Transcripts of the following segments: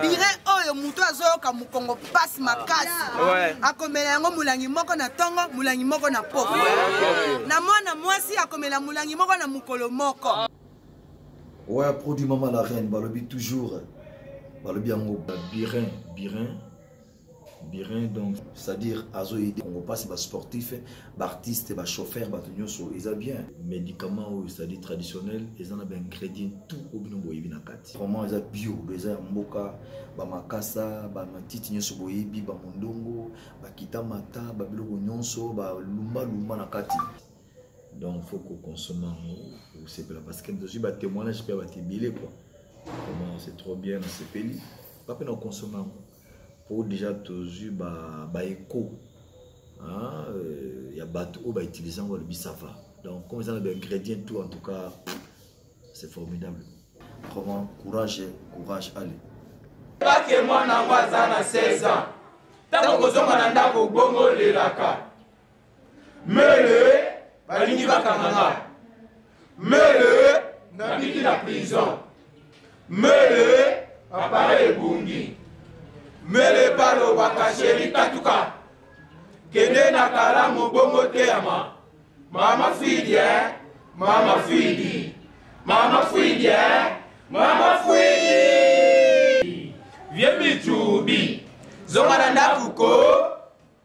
bire oyo moto azoyoka mokongo mpasi makasi akomela yango molangi moko na ntongo molangi moko na poko na mwana mwasi akomela molangi moko na mokolo moko oya produit mama la reine balobi toujours balobi yango birin birin birin donc c'est-à-dire azo aider kongo mpasi basportif baartiste bachauffeur bato nyonso eza bien médicament oyo c'est-à-dire traditionnel eza na baingrédient tout oyo bino boyebi na kati vraiment eza bio eza ya mboka bamakasa bamatiti nyonso boyebi bamondongo bakita mata babiloko nyonso balumbalumba na kati donc faut kokonsome yango osepela parce que tozwi batémoignage mpe ya bato ebele kua vraiment c'est trop bien nasepeli bape na konsome yango po deja tozwi ba, ba echo hein, euh, ya bato oyo bautilize yango balobi ça va donc comme eza na baingrédient tout en tout cas c'est formidable vraiment courage courage ale bake mwana yango aza na 16 ans ntango kozonga na ndako bongo olelaka Mele, balingi bakanga nga. Mele, nabiki na prison. Mele, appareil ebungi. Mele balobaka sheri katuka. Kende na kalamu bongo teyama. Mama fidi, eh? Mama fidi. Mama fidi, eh? Mama fidi. Vieux Michubi, zonga na ndako ko.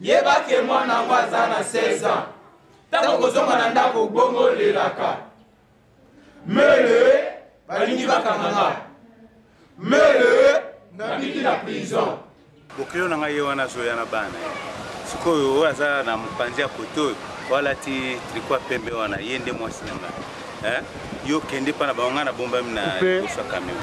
Yeba que mwana yango aza na 16 ans. Tango kozonga na ndako bongo lelaka. Mele balingi bakanga nga. Mele nabiki na prison. Bokilo na ngai ye wana azoya na bana ye. Sikoyo oyo aza na mopanzi ya kote oyo walati triko ya pembe wana ye nde mwasi na ngai. Eh? Yo kende mpa na bango ngai nabombami na liboso ya kameo.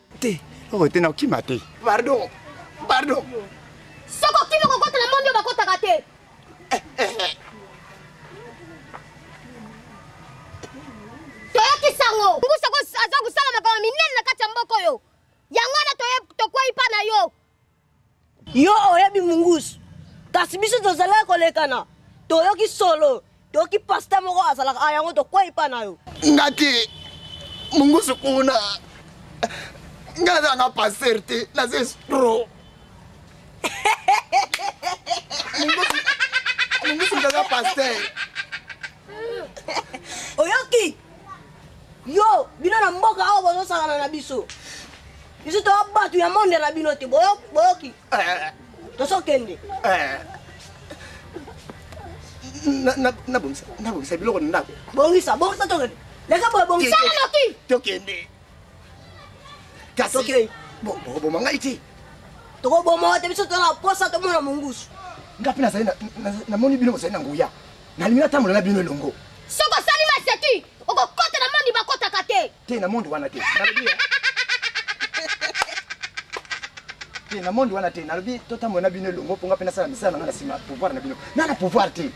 te oyo te nakokima te pardon pardon soki okimi kokota na mondi oyo bakotaka te eh, eh, eh. toyokisa yango ngusa aza kosala makambo minene na kati ya mboka oyo yango wana tokwei mpa na yo Yo oyebi mungusu kasi biso tozalaki kolekana toyoki solo toyoki pasta moko azalaka a yango tokwei pa na yo nga te mungusu kuna nga nazalanga paster te naza estro mungusu mungusu naza paster oyoki yo bino na mboka awa bozosakana na biso biso toya bato ya monde na bino te boyoki eh. tosokende eh. nabongisa biloko na ndako bongisa bongisa tokende leka boye bongisa tokende kasi okay. bon bokoboma ngai te tokoboma te biso tozala posa tomona mongusu nga mpe nazali namoni bino bozali na nguya nalingi natambola na bino elongo soki osali maseki okokota na mondi bakotaka te te na mondi wana te te na mondi wana te nalobi totambola na bino elongo mpo nga mpe nasala misala na nga na nsima pouvoir na bino na na pouvoir te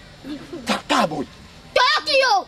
kaka boye toyoki yo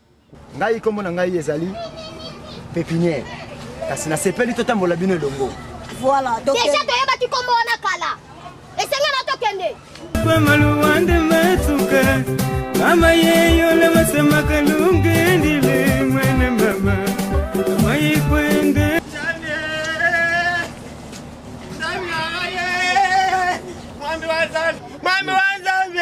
Ngai kombo na ngai ezali Pepinière. Kasi nasepeli totambola bino elongo. Voilà, donc déjà toyebaki kombo wana kala. Esengeli na tokende. Kwa maluwande matuka. Mama yeyo le masema kalunge ndile mwene mama. Mama yikwende. Mwami wa Zambi. Mwami wa Zambi.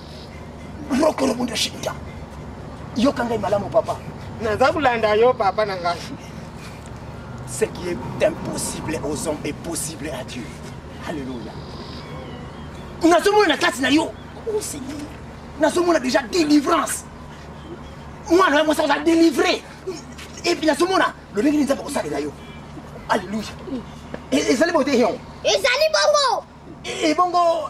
mokolo mundo shinda yoka ngai malamu papa naza kolanda yo papa na ngai ce qui est impossible aux hommes est possible à dieu alléluia nazomona na kati na yo o oh, seigneur nazomona déjà délivrance mwana ya mwasi aza délivre epuis nazomona lolenge nini nzambe akosalela yo alleluia ezali bote yon ezali bongo ebongo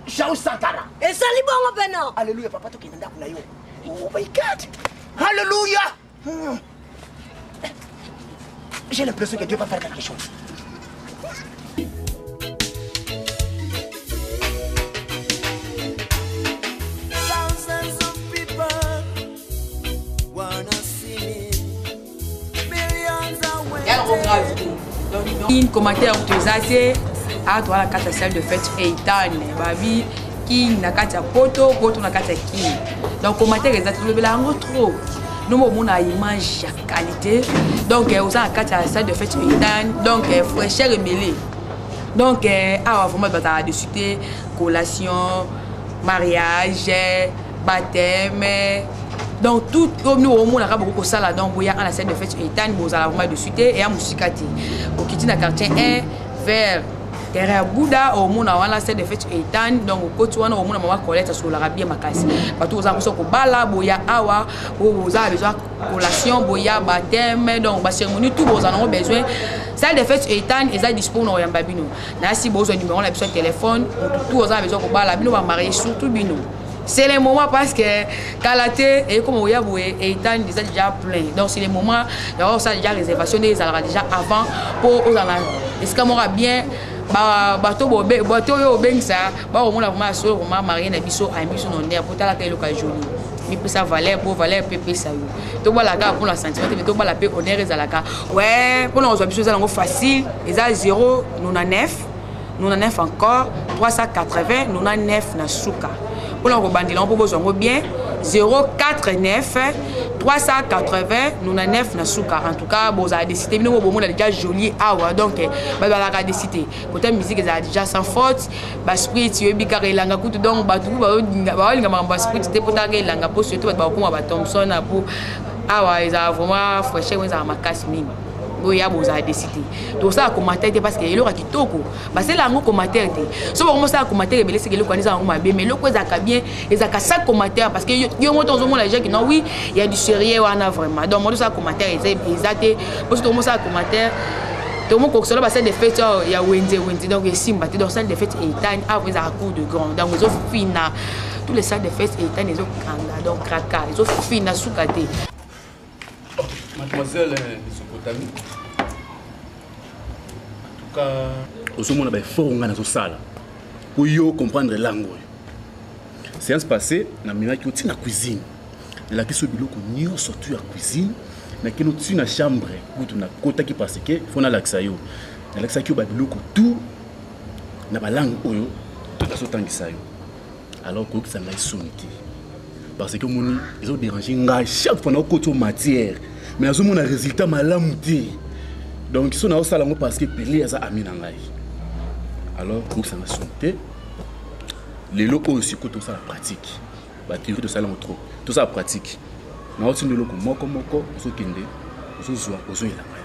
shau sankara esali bongo pena aleluya papa tokende ndako na yo oh my god aleluya hmm. j'ai l'impression que dieu va faire quelque chose in commentaire toza se awa toza na kati ya salle de fete eitan babi king na kati ya poto poto na kati ya king donc commentaire eza tolobela yango trop nomo omona image ya qualité donc eh, oza na kati ya salle de fete eitan donc eh, fraîcheur emele donc eh, awa vraiment bazala desute collation mariage bateme donc tout omi omonaka bokoki kosala donc boya ana scène de fete etani bozala vraimen dessus te eya mosika te okiti na quartier 1 vers terrain ya buda omona wana scène de fete etani donc okoti wana omona mama colete asololaka bien makasi bato boza mposa kobala boya awa boza besoin collation boya bateme donc baceremonie tout boza nango besoin salle de fete etani eza dispo na koyamba bino nayasi bozwa numero na biso ya telefone motu tu oza na besoin kobala bino bamarie surtout bino c'est le moment parce que kala te ekoma oya boye etani eza déjà plein donc c'est le moment yango osala déjà réservation nde ezalaka déjà avant mpo ozala na esika moko ya bien bato oyo obengisa bakomona vraimen asolo vraimen marie na biso ayembi biso na honneur mpo talaka eloko ya joli mipesa valeur mpo valeur mpe epesa yo tobala kaka mpona sentiment te me tobala mpe honneur ezalaka we mpona kozwa biso eza nango facile eza 0 nona 9 99 encore 380 99 na suka mpona kobandela yango mpo bozwa yango bien 049 380 99 na suka en tout cas bozala desi te bino bo bomona deja jolie awa donc eh, bazalaka desi te kota musique ezala deja sans faute basprit yoyebi kaka elanga kutu donc bato ku baolinga makambo ya sprit te mpotaka elanga mpo surtout bato bakokoma batomson apo awa ezala vraiment fraîcheur ezala makasi mingi boya bozala desi te tosala commentaire te parce que eloko ya kitoko basala yango commentaire te so bango mosala commentaire ebele seke eloko wana eza yango mabe mais eloko ezalaka bien ezalaka sa commentaire parce que yo moto ozomona jaki non oui ya du sérieux wana vraiment donc moto osala commentaire eza te po so tomosala commentaire tomokokisolo basali de fete oh, ya wenze wenze donc esimba te donc sali de fete etani avo ezalaka cour de grand donc ezofina tous les salles de fete etani ezokanga donc kraka ezofina suka te mademoiselle eh, mesopotami antuka ozomona baeffort ngai nazosala mpo yo comprendre langue oyo séance passé namelaki yo ntina cuisine nalakisi yo biloko nyonso tu ya cuisine nakeli yo ntina chambre kutu nakotaki parce que fo nalakisa yo nalakisaki yo babiloko tout na balangue oyo tozotangisa yo alors koyokisa ngai soni te parce que omoni ezo dérange ngai chaque fois naokoti o matière mais azomona résultat malamu te donc so naosala yango parce que pele aza ami na ngai alors koyokisa ngai soni te lelo oyo sikoyo tosala pratique batheorie tosala yango trop tosala pratique naotinda eloko moko moko ozokende ozozwa ozoyela ngai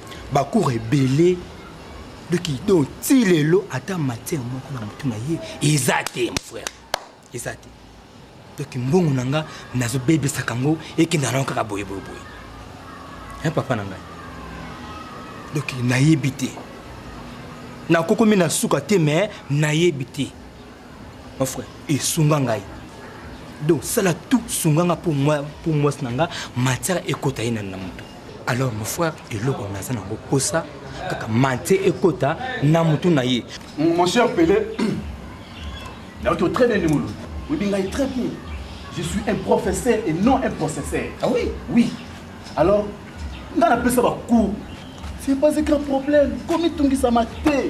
bacour ebele doki donc ti lelo ata matière moko na motu na ye eza te mon frère eza te doki mbongo na nga nazobebisaka yango ekenda nango kaka boyeboyeboye e papa na ngai doki nayebi te nakokomi na suka te me nayebi te mon frère esunga ngai donc sala tout sunga nga mpo mwasi na nga matière ekota ye na motu alors mon frère eloko naza nango posa kaka mante ekota na motu na ye mon cher pele nayoki yo très bien ndimulu oyebi ngai très bien je suis un professeur et non un processeur ah oui oui alors ngai napesa bacours c'est pas un grand problème komitungisama te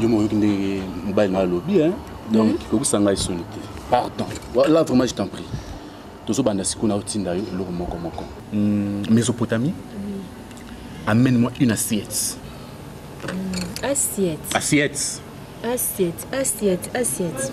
yo moko oyoki ndenge mobali na alobi donc mhm. kokisa ngai soni te pardon là vraiment je t'en prie tozobanda sikoyo na otinda yo eloko moko moko hmm, mésopotamie amène moi une assiette hmm, assiette assiette assiette assiette assiette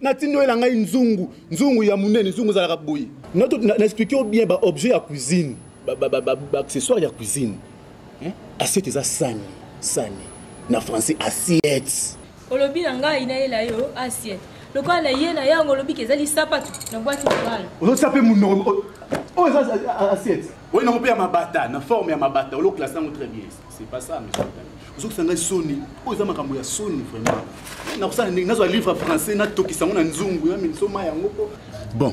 natindi oyela ngai nzungu nzungu ya monene nzungu ezalaka boye na explike yo bien baobjet ya cuisine baaccessoire ya cuisine assiette eza sani sani na français assiette olobi na ngai nayela yo assiette lokola na ye na yango olobi ke ezali sapatu na bwaki mobala ozotia mpe monoko oyo eza assiette oyo nango mpe ya mabata na forme ya mabata oloklasa yango très bien C'est pas ça, monsieur. ozokisa ngai soni oyo eza makambo ya soni vraiment nakosala ndenge nazwa livre français natokisa yango na nzungu ya minsoma yango po bon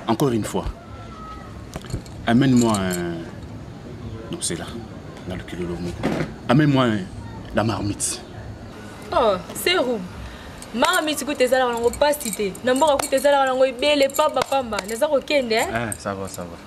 encore une fois amène moi un... non c'est là na lokilolo moko amène moi un... la marmite oh serum mama miti kuta ezalaka nango mpasi te na mboka kuta ezalaka nango ebele pambapamba naza kokende eh? eh, ça va, ça va.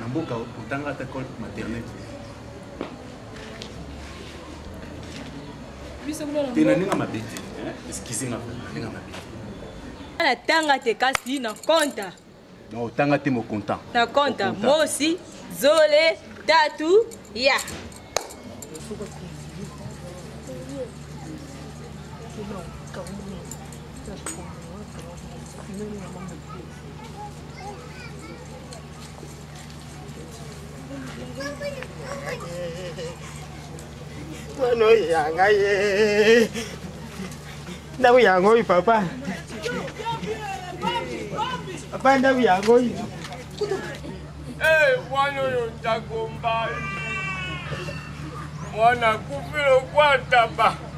na mboka otanga ata col maternel te na ndenge mabe te eskize nga na ndenge mabe te natanga te kasi na konta Non, otanga te mo content. Na content. Moi aussi, zole, tatu, ya. Thank you. Mwana ya ngai ye. Ndako yango oyo papa. Papa ndako yango oyo. Eh, mwana oyo ndako mbai. Mwana kufi lokwa ntaba.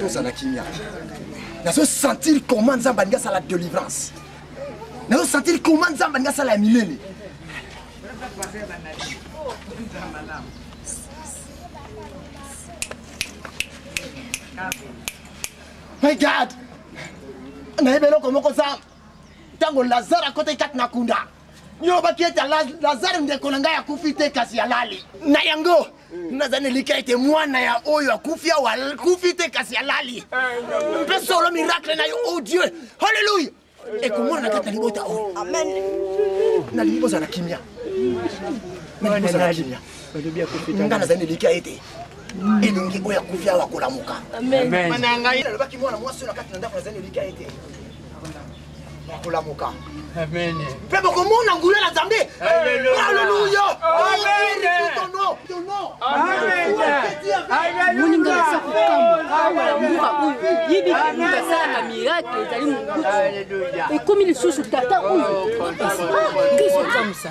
tozala kimia nazosentire comment nzambe alingi asala délivrance nazosentire comment nzambe alingi asala ya milele my god nayebi eloko moko za ntango lazare akotaki kati na kunda yolobaki ete lazare ndeko na ngai akufi te kasi alali na yango naza na elikya ete mwana ya oyo akufi awa akufi te kasi alali mpe solo miracle na yo o oh dieu halleluya ekomona na kati na libota oyo nalingi bozala na kimia nalingi bozala na kimia nga naza na elikya ete elongi oyo akufi awa kolamuka nalobaki mwana mwasi oyo na kati na ndako naza na elikya ete bakolamuka mpe bokomona nguya na nzambe aleluya moninga aza kokamwa awa na mboka oyo yebi moto asalaka miracle ezali mobutu ekomi lisusu tata oyo kristo akamwisa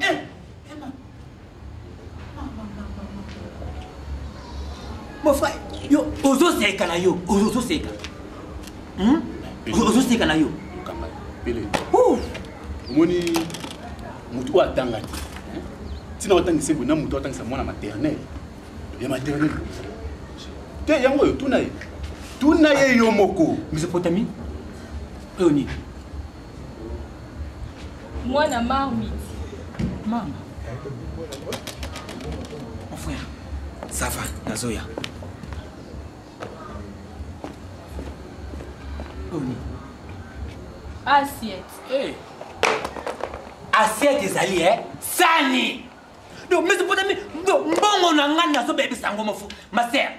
Eh, Emma. Mon frère, yo, ozoseka na yo, ozoseka. Hmm? Ozoseka na yo. Kamba, pele. Ouh. Omoni mutu oyo atanga te. Tina otangisa ebo na mutu otangisa mwana maternelle. Ya maternelle. Te yango oyo tuna ye. Tuna ye yo moko. Mesopotamie. Oyo nini? mwana marmite mama mon frère ça va nazoya oni assiette hey. Eh. assiette ezali e eh? sani donc mesi mpona mbongo na ngai nazobebisa yango mofu ma sere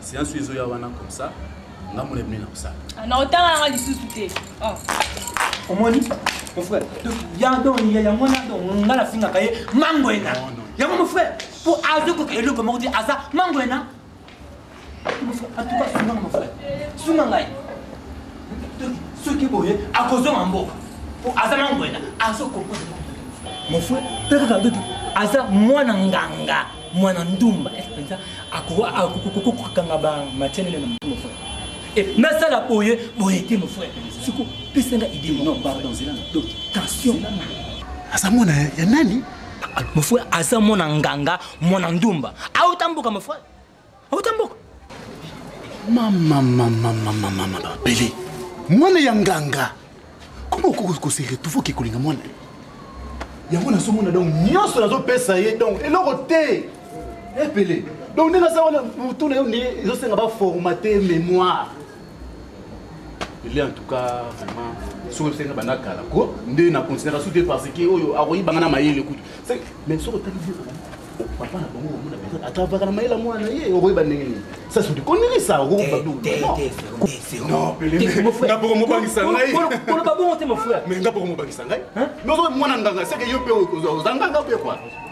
Séance ezo ya wana comme ça. Nga mona mena comme ça. Ah, na otanga nga lisusu te. Oh. Omoni? Mon frère, donc ya donc ya yango na donc nga na finga kaye mango ena. Yango mon frère, pour azo ko kelo comme on dit aza mango ena. Mon frère, en tout cas sunga mon frère. Sunga ngai. Donc ce qui boye akozo mambo. Pour aza mango ena, azo ko Mon frère, peut-être aza mwana nganga. mwana ndumba est penza akokokokokanga ba matière nene na motu mon frère et nasala boye boye te mon frère siko pesanga idée non pardon zela na donc tension aza mwana ya nani mon frère aza mwana nganga mwana ndumba auta mboka mon frère Ota mboka. Mama mama mama mama babele. Mwana ya nganga. Comment okoki ko se retrouver ke kolinga mwana? Yango nazomona donc nyonso nazopesa ye donc eloko te. Epele. Donc ndenge aza wana motuna yo nde ezosenga ba formater mémoire. ele en tout cas vraiment soki oyebisa nga banda kala ko nde na continuaka su te parce que oyo akoyibanga na mayele kutu mais soki otali vie papa na bango omona mpenza atravaka na mayele ya mwana na ye okoyeba ndenge nini ça c'est du connerie ça okokoba bilonaboko mobangisa ngaikoloba bongo te mon frère mais nga boko mobangisa ngai mwana nganga seke yo mpe oza nganga mpe kua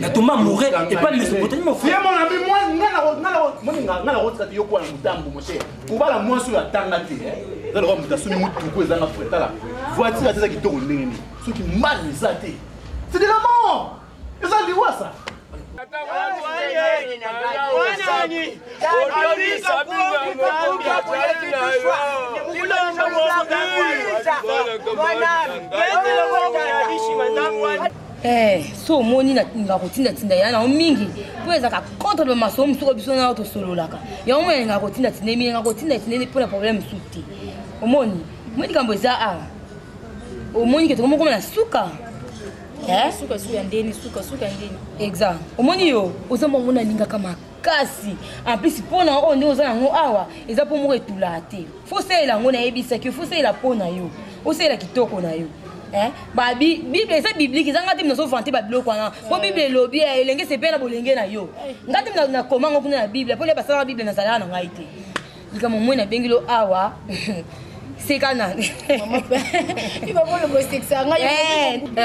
natumba moure epai mesopotamie mofuye mon ami nga nakotika te yokuwa na motambo moshe kobala mwasi oyo atanga te eh. eza lokola moto asumi motuku ezanga fretala voitire ate eza kitoko ndenge nini soki mbali eza te c'est de la mort eza liwasa Mwana, Eh, so omoni nalinga kotindatinda ya nango mingi mpo ezalaka contre bamasomo mosusu oyo biso nao tosololaka yango moi nalingaka kotindatinda eminenga kotindatinda mpo na problème mosusu te omoni moi likambo eza awa omoni ke tokomi okoma na suka eh? exa omoni yo oza mwango nalingaka maka kasi en plus mpo na oyo nde oza yango awa eza mpo moko etulaka te fo osalela yango nayebisaki yo fo osalela mpo na yo osalela kitoko na yo Eh, bible eza biblike eza ngai te nazovante babiloko wana mpo bible elobi eh, elenge sepela bolenge na yo ngai te nakoma ngo kuna na bible mpo nde basalaka bible nazalaka na ngai te likambo moi nabengi lo awa seka nani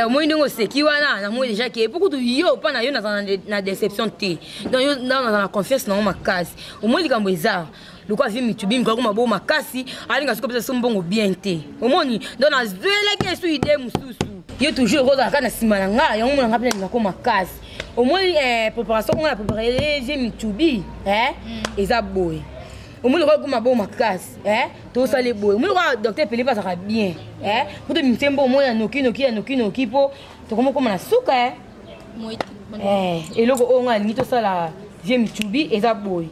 omoi ndenge oseki wana namoi deja ke po kutu yo mpa na yo naza na deception te donc yo naza na confiance nango makasi omoi likambo eza lokola vie mitubi mikolo koma bo makasi alinga soki opesa so mbongo bien te omoni donc nazwelaki esu idee mosusu yo toujours okozala kaka na nsima na ngai yango mona ngai mpe nalinga ko makasi omoni eh, préparation nga na préparele je mitubi eh, mm. eza boye omoni lokola ekoma bo makasi eh, tosale boye omoni lokola docteur pele mpe azalaka bien eh, mpo to bimite mbo omoi ya nokinoki ya nokinoki mpo tokomi okoma na suka eh. eh, eloko oyo nga alingi tosala vie mitubi eza boye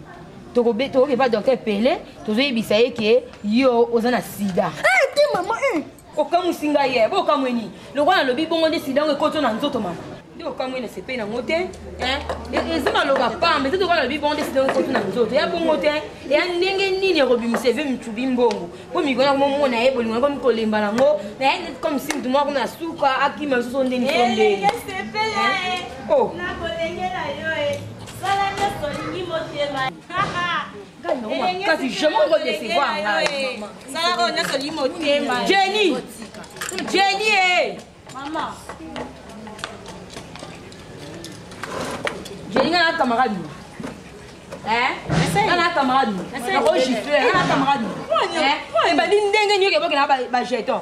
tokoki epa docteur pele tozoyebisa ye ke yo oza na sida ah, okamwisi ngai ye bo okamwe nini lokola nalobi bongo nde sida yango ekoti na nzoto mama nde okamwe na sepei nango te eh, e, eza maloba pamba eza lokola nalobi bongo nde sida yango ekoti na nzoto ya bongo te eya ndenge nini ekobimisa eve micubi mbongo mpo mikolo yango momona ye bolingo yango mikolemba nango na ye neti comme si motu moko na suka akima lisusu ndeni to ndeni kasi je moko decevoir ngai jenny jenny e jenny ngai na camarade ana camarade oyo gifle ana camarade ebandi ndenge nioki ebokela bajeton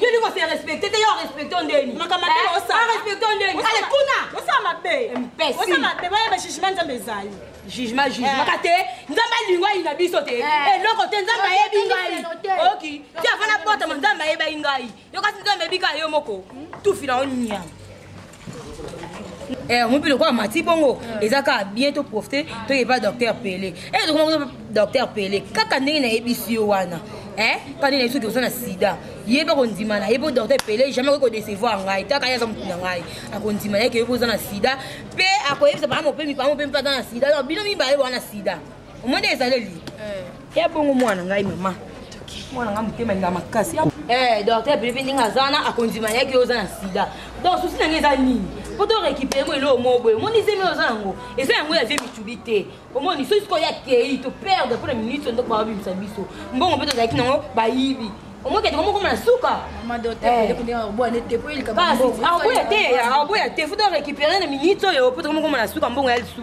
yo liko se respecte te yo arespecte ndeni arespecte ndeni ale kuna osala mabe mpesi osala mabe bayeba jugement nzambe ezali jugement jugemaka te nzambe alingo ayina biso te eloko te nzambe ayebi ngai oki ti afana botama nzambe ayebai ngai yo kasi nzambe ebika yo moko tufi na yo nyama Eh, mopi lokola mati bongo eza kaka bien to profite toye pa docteur pele e eh, tokomaa docteur pele kaka ndenge nayebisi yo wana eh, kaka ndenge nayebi soki oza na sida ye mpe kondima na ye mpo docteur pele jamais akoki kodecevoir ngai taka ye aza motu na ngai akondima na ye ke yo mpe oza na sida mpe akoyebisa baa mopemi baa mopemi mpe aza na sida donc bino mibale boa na sida omoni ezaleli ya bongo mwana ngai mama mwana ngai motema linga makasi eh, docteur pilipi ndenge aza wana akondima yaki yo oza na sida donc susi na ngai eza nini po to récupéré mo eloo mo boye omoni zemi oza yango eza yango ya vie mitubi te omoni soki sikoyo ya kei to perdre mpo na minute ndoko babimisa biso mbongo mpe tozalaki nango bayibi omoki ete komokoma na suka akoya te akoya te futa récupéré na minute oyo po tokomokoma na suka mbongo ya lisusu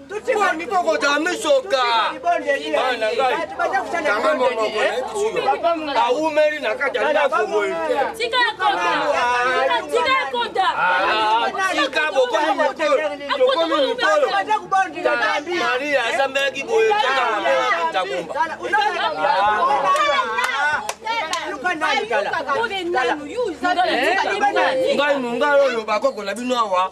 boni kokota misoka bana ngai kanga monoko awumeli na kati ya ndako boye tika bokomi mikolo tokomi mikolo maria asambelaki boye kitakomba ngai mongala oyo bakoko na bino awa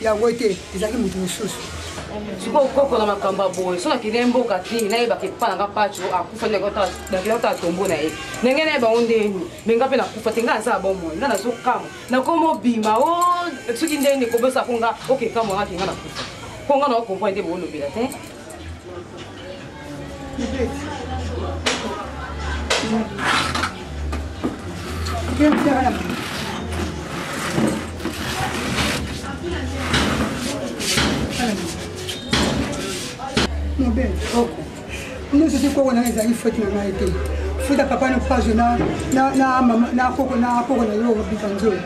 yango te ezalaki moto mosusu sikoyo koko na makambo ya boye soki akende mboka te nayebaka epa nanga paco akufa ndakilakotala tombo na ye ndenge naye bango ndeni me nga mpe nakufa te nga aza bomoi nga nazokama nakoma obima o oh, soki ndeni kobosako nga okekamwa nga kenga nakufa mpo nga naokomprane nde boolobela te mobele oko nyonso te koko nanga ezali foti na ngai te futa papa na page na koko na yo obika nzoi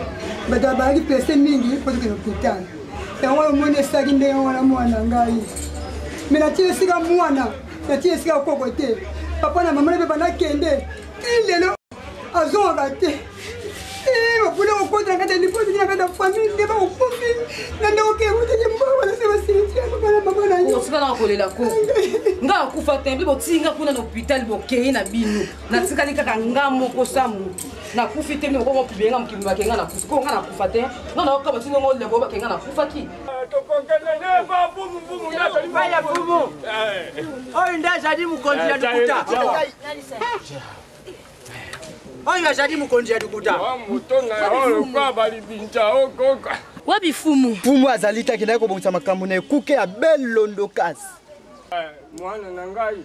bato bazalaki prese mingi mpo tokende hopital yango oyo omoni esilaki ndenge wana mwana ngai me natii esika mwana natii esika koko te papa na mama na mpe banakende ti lelo azongaka te bapona kokota na kati ya lipoti na kati ya famille nde bakokomi na nde okekutaki mbongo na se basiliti ya papa na mama na yo osika na kolela koko ngai akufa te mpe botinga kuna na hôpital bokei na bino natikali kaka nga moko sa motu nakufi te mimi okongo pibele nga mokili bake nga nakufi ko nga nakufa te nga naoka batino ngo lebo bake nga nakufaki oyo nde azali mokonzi ya lokuta oyo azali mokonzi ya lokuta wapi fumu fumu azali te akendaki kobongisa makambo na ekuke ya belondokas eh, mwana na ngai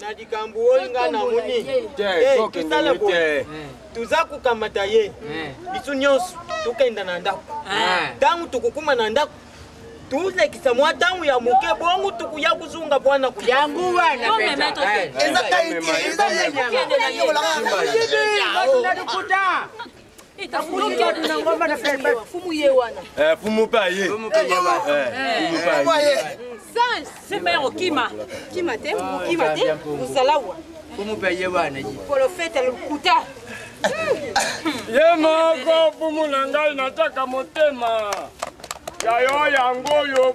na likambo oyo nga namoni tosala boye toza kokamata ye biso nyonso tokenda na ndako ntango tokokuma na ndako tolekisa mwa ntango ya moke bongo tokoya kozonga bwana yango wanaeza fumu mpe aye sema ya kokima kima te kima te ozala wa fumu mpe aye wana ye kolofeta lokuta ye moko fumu na ngai nataka motema ya yo yango oyo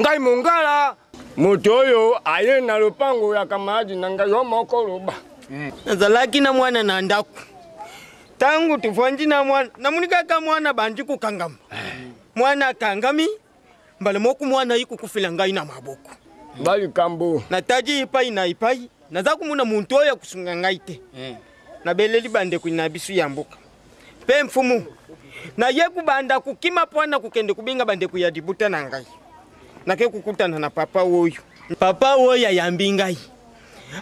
ngai mongala moto oyo aye na lopango ya kamaradi na ngai yo moko loba hmm. nazalaki na mwana na ndako ntango tofandi na mwana namoni kaka mwana bandi kokangama eh. mwana akangami mbala moko mwana ayi kokufela ngai na maboko balikambo natadi epai na epai naza komona moto oyo akosunga ngai te eh. nabeleli bandeko na biso ya mboka Mpe mfumu, naye kubanda kukima mpo na kokende kobenga bandeko ya libota na ngai. Nake kokutana na papa oyo. Papa oyo ayambi ngai,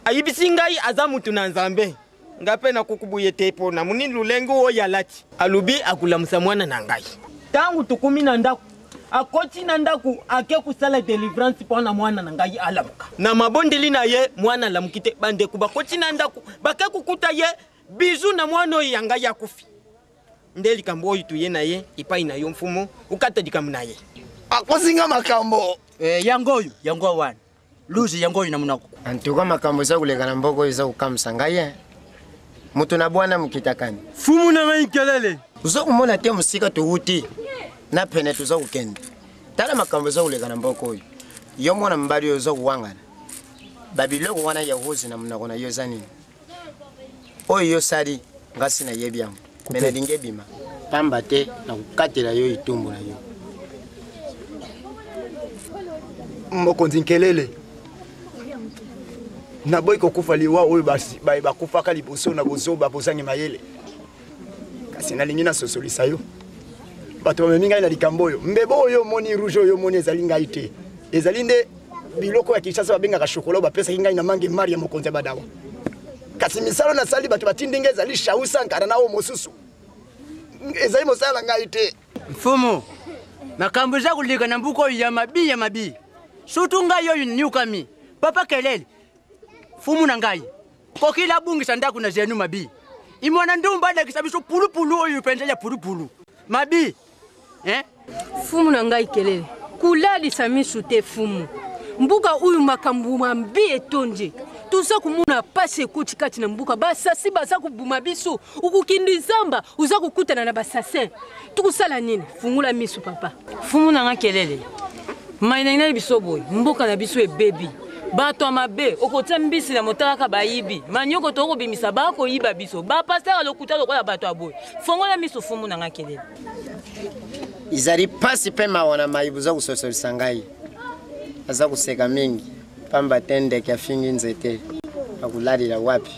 ayibisi ngai aza moto na Nzambe. Ngai mpe nakokubuye te mpo na monini lolenge oyo alati. Alobi akolamusa mwana na ngai. Ntango tokomi na ndako, akoti na ndako ake kosala delivrance mpo na mwana na ngai alamuka. Na mabondeli na ye, mwana alamuki te. Bandeko bakoti na ndako, bake kokuta ye Bisous na mwana oyo ya ngai akufi. Nde likambo oyo tuye na ye epai na yo mfumu, okata likambo na ye. Akosi nga makambo. Eh, yango oyo, yango wana. Luzi yango oyo na monoko. En tout cas makambo eza koleka na mboko oyo eza kokamwisa ngai ye. Eh. Moto na bwana mokitakani. Fumu na ngai nkelele. Oza komona te mosika towuti na pene toza kokende. Tala makambo eza koleka na mboko oyo. Yo mwana mobali oyo oza kowangana. Babiloko wana ya rose na monoko na yo eza nini? oyo yo sali ngasi na yebi yango me nalingi ebima pamba te na kokatela yo itumbu na yo mokonzi nkelele naboyi kokufa liwa oyo bakufaka liboso na bozoba bozangi mayele kasi nalingi nasosolisa yo bato bamemi ngai na likambo oyo mbebo oyo omoni rouge oyo omoni ezali ngai te ezali nde biloko ya kinshasa babengaka shokola oyo bapesaki ngai na mange mari ya mokonzi ya badawa kasi misala nasali bato batindi ngai ezali shau sankara na oyo mosusu ezali mosala na ngai te mfumu makambo eza koleka na mbuka oyo ya mabi ya mabi sutu ngai oyo niukami papa kelele mfumu na ngai kokila abungisa ndako na zenu mabi imwana ndumba alakisa biso pulupulu oyo mpenza ya pulupulu mabi hein fumu na ngai kelele kolalisa misu te fumu mbuka oyo makambo mambi etondi toza komona mpasi ekoti kati na mbuka basasi baza kobuma biso okokende zamba oza kokutana na basasin tokosala nini fungola miso papa fumu na nga kelele mai na ngai biso boye mboka na biso ebebi bato ya mabe okotia mbisi na motalaka bayibi manioko to okobimisa bakoyiba biso bapastere lokuta lokola bato ya boye fongola miso fumbu na ngai kelele ezali mpasi mpe mawa na mai boza kososolisa ngai aza koseka mingi mpamba te ndeke afingi nzete akolalela wapi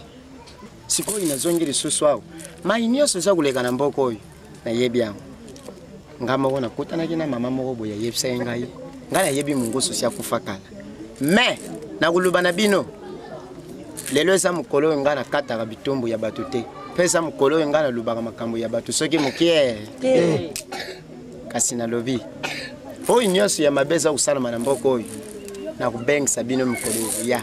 sikoyo nazongi lisusu awa mai nyonso eza koleka na mboka oyo nayebi yango ngai moko nakutanaki na mama moko boye ayebisaki ngai ngai nayebi mongoso si akufa kala me nakoloba na bino lelo eza mokolo oyo ngai nakataka bitumbu ya bato te mpe eza mokolo oyo ngai nalobaka makambo ya bato soki mokie kasi nalobi oyo nyonso ya mabe eza kosalama na mboka oyo nakobengisa bino mokolo ya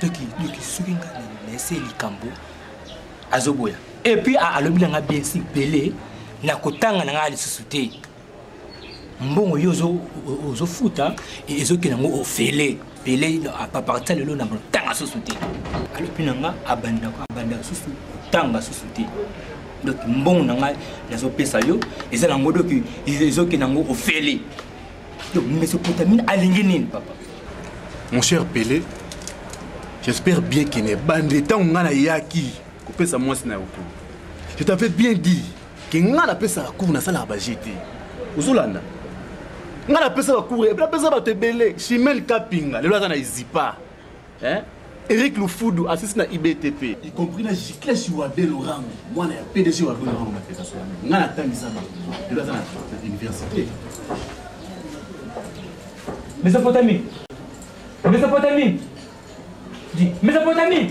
toki toki soki nga na laisse likambo azoboya et puis alobi na nga bien si bele na kotanga na nga lisusu te mbongo yo ozofuta ezokende yango ofele pele aparti lelo na kotanga susu te alobi na nga abanda abanda susu kotanga susu te donc mbongo na ngai nazopesa yo eza nango doki ezokende yango ofele Donc, Mésopotamie, alingi nini, papa Mon cher Pelé, j'espère bien que ne bande tant on a yaki, kopesa mwasi na yoko. Je t'avais bien dit que nga na pesa la cour na sala ba GT. Ozolanda. Nga na pesa la cour, na pesa ba tebele, chimel kapinga, lelo aza na izipa. hein? Eric Lufudu asisi na IBTP y compris na Gicles Wabe Lorango mwana ya PDG Wabe Lorango na Pesa Sola nga na tangisa ba lelo aza na université Mesopotamie Mesopotamie Dis Mesopotamie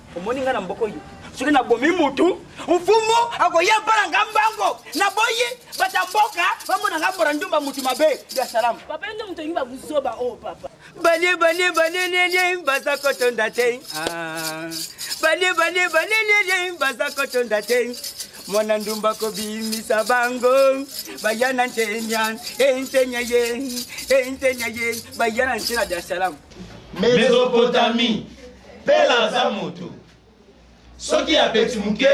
omoni ngai na mboka oyo soki nabomi mutu mfumu akoya mpona nga mbango naboyi bata mboka bamona nga mbora ndumba mutu mabe ya salamu papa nde moto olingi babuzoba oyo oh, papa bane bane banenene baza kotonda te ah. bane bane banenene baza kotonda te mwana ndumba kobimisa bango baya na ntenya entenya eh, ye entenya eh, ye baya na nse na dar es salaam mesopotamie Pele aza moto soki ya beti moke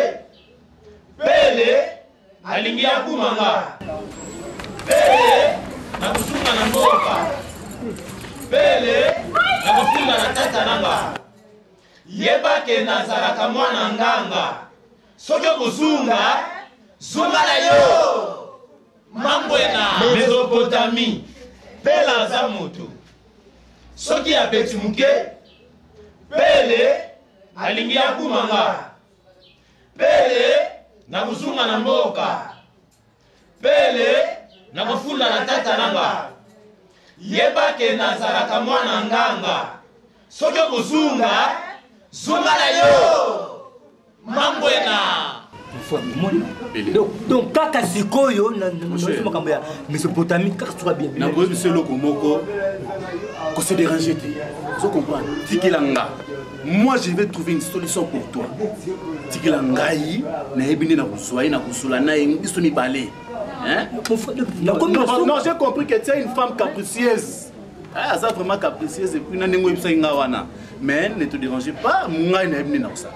pele alingi ya kuma nga pele na kosunga na mboka pele na kosunga na tata na nga yeba ke nazalaka mwana nganga soki okozunga zunga na yo Mamwe na Mezopotami, Pela aza moto. Soki abeti moke, Pele alingi akuma nga. Pele na kozunga na mboka. Pele na kofunda na tata na nga. Yeba ke nazalaka mwana nganga. Soki okozunga, zunga na yo. Mangwena. donc kaka sikoyo naosi makambo ya mesopotamie kaka soka bien nakoyebi biso eloko moko kose dérange te ozo comprendre tikela nga moi je vais trouver une solution pour toi tikela ngai nayebi nde nakozwa ye nakosola na ye biso mibale non j'ai compris que tu es une femme capricieuse ah, aza vraiment capricieuse epuis na ndenge oyebisaki nga wana mais ne te dérange pas ngai nayebi nde nakosala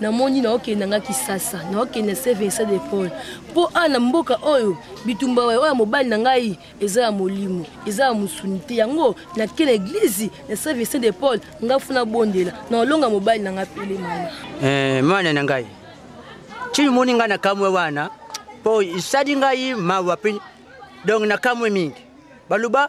namoni naokenda nga kisasa naokenda se vincent de paul mpo a na mboka oyo bitumba oyo ya mobali na ngai eza ya molimo eza ya mosuni te yango nake na eglize na se vincent de paul nga fo nabondela na olonga mobali na ngai pele mama eh, mwana na ngai ntina omoni ngai na kamwe wana mpo esali ngai mawa mpe donk na kamwe mingi baluba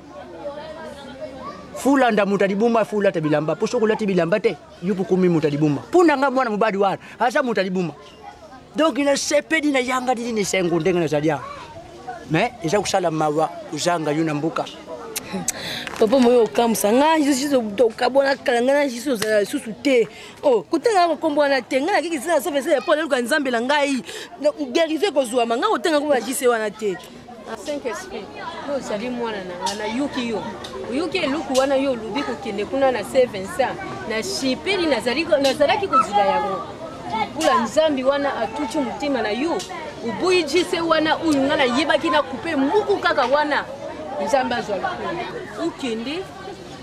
fulanda moto alibuma fulata bilamba mpo soki olati bilamba te yo kokomi moto alibuma mpo na ngai mwana mobali wana aza moto alibuma donk nasepeli nayangani nini esengo ndenge nazali awa mais eza kosala mawa kozanga yo na mboka papa moye okamwisa ngai okabwana kala ngai na jisi ozala lisusu te oh, kotanga kokombo wana te ngai nakiki zina safesele mpo naluka nzambe na ngai guerise ekozwama ngai kotanga koma jisi wana te saint esprit yo ozali mwana na nga nayoki yo oyoki eloko wana yo olobi kokende kuna na se vincent na shipeli nazalaki kozila yango mpula nzambi wana atuti motema na yo oboyi jise wana oyo nga nayebaki na kupe muku kaka wana nzambe azwa lokola okende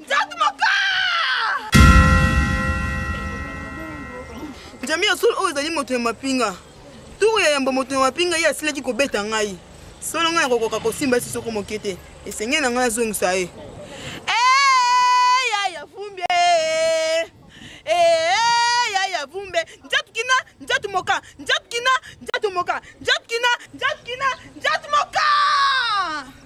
nzatu moko njambi ya solo oyo ezali moto ya mapinga turu ya yambo moto ya mapinga ye asilaki kobeta ngai solo ngai nakokoka kosimba esi soko moke te esengeli na ngai nazongisa ye